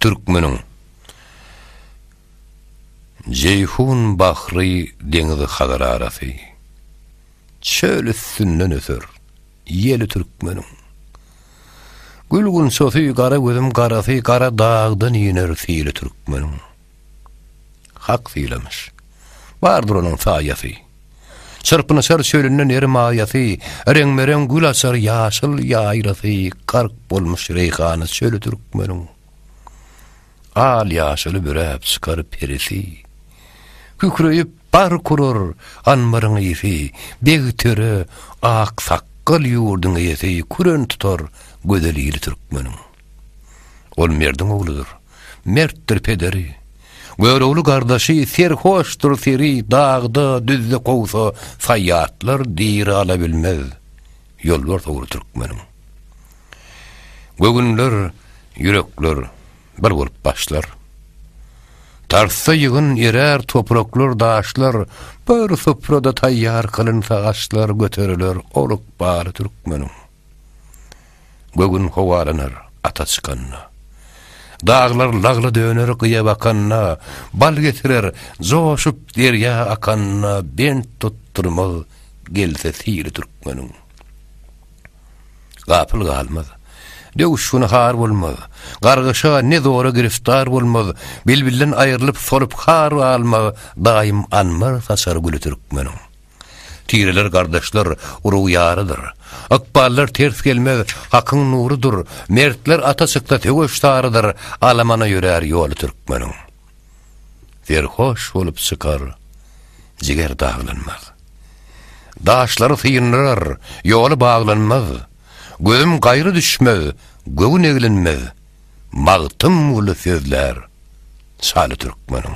Türkmeniň Jeýhun bahry deňizi Hazar arasy Çöl üstünden öser ýeli türkmeniň Gül gunçasy gara gözüm garasy Gara dagdan iner sili türkmeniň. Hak sylamyş. Bardyr onuň saýasy. Çyrpynyşar çölünde ner maýasy, Reňbe-reň gül açar ýaşyl ýaýlasy, Gark bolmuş reýhana çöli türkmeniň. Al-ýaşyly büräp çykar perisi, Kükreýip bark urar anbaryň ysy, Beg-töre, aksakgal ýurduň eýesi, Küren tutar gözel ili türkmeniň. Ol merdiň ogludyr. Mertdir pederi. Görogly gardaşy serhoşdyr seri dagda, düzde kowsa saýýatlar diri ala bilmez. Ýolbars ogly türkmeniň. Göwünler, ýürekler bir bolup başlar. Tarsda ýygyn erär topraklar, daşlar, bir suprada taýýar kylynsa aşlar göteriler oluk bary türkmeniň. Göwün howalanar ata çykanda. Daglar lagla döner gyýa bakanda, Bal getirer joşup derýa akanda, Bent tutdurmaz gelse syry türkmeniň. Gapyl galmaz, döwüşgini har bolmaz, Gargyşa ne zora giriftar bolmaz, Bilbilden aýrylyp solup har galmaz, Daýym anbar saçar güli türkmeniň. Tireler gardaşlar, urug ýarydyr. Ykballar ters gelmez, hakyň nurudyr, Mertler ata çyksa söweş sarydyr, Alamana ýörär ýoly türkmeniň. Serhoş bolup çykar, jiger daglanmaz. Daşlary syndyrar, ýoly baglanmaz, Gözüm gaýra düşmez, göwün eglenmez, Magtymguly sözlär, şaly türkmeniň.